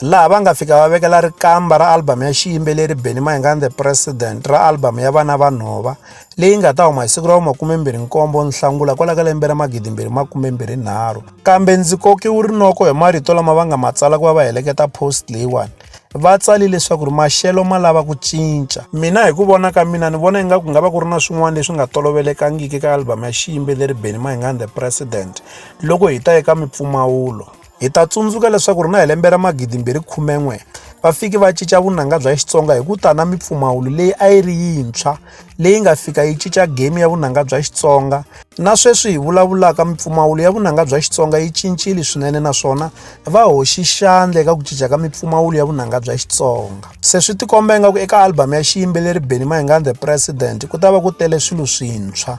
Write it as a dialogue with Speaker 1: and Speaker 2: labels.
Speaker 1: laha va nga fika va vekela rikamba ra album ya xiyimbeleri Benny Mayengani the President ra album ya Vana Va Nhova leyi nga ta huma hi siku ra vu makumembirhi-nkombo Nhlangula kwala ka lembe ra magidimbirhi makumembirhi-nharhu kambe ndzi kokiwe rinoko hi marito lama va nga ma tsala ku va va heleketa post leyiwani va tsali leswaku ri maxelo ma lava ku cinca mina hi ku vona ka mina ni vona ingaku nga va ku ri na swin'wana leswi nga tolovelekangiki ka album ya xiyimbeleri Benny Mayengani the President loko hi ta eka mipfumawulo Hi ta tsundzuka leswaku ri na hi lembe ra magidimbirhi khumen'we va fike va cinca vunanga bya Xitsonga hi ku ta na mipfumawulo leyi a yi ri yintshwa leyi nga fika yi cinca game ya vunanga bya Xitsonga na sweswi hi vulavulaka mipfumawulo ya vunanga bya Xitsonga yi cincile swinene naswona va hoxi xandla eka ku cinca ka mipfumawulo ya vunanga bya Xitsonga se swi tikomba ingaku eka album ya xiyimbeleri Benny Mayengani the President ku ta va ku tele swilo swintshwa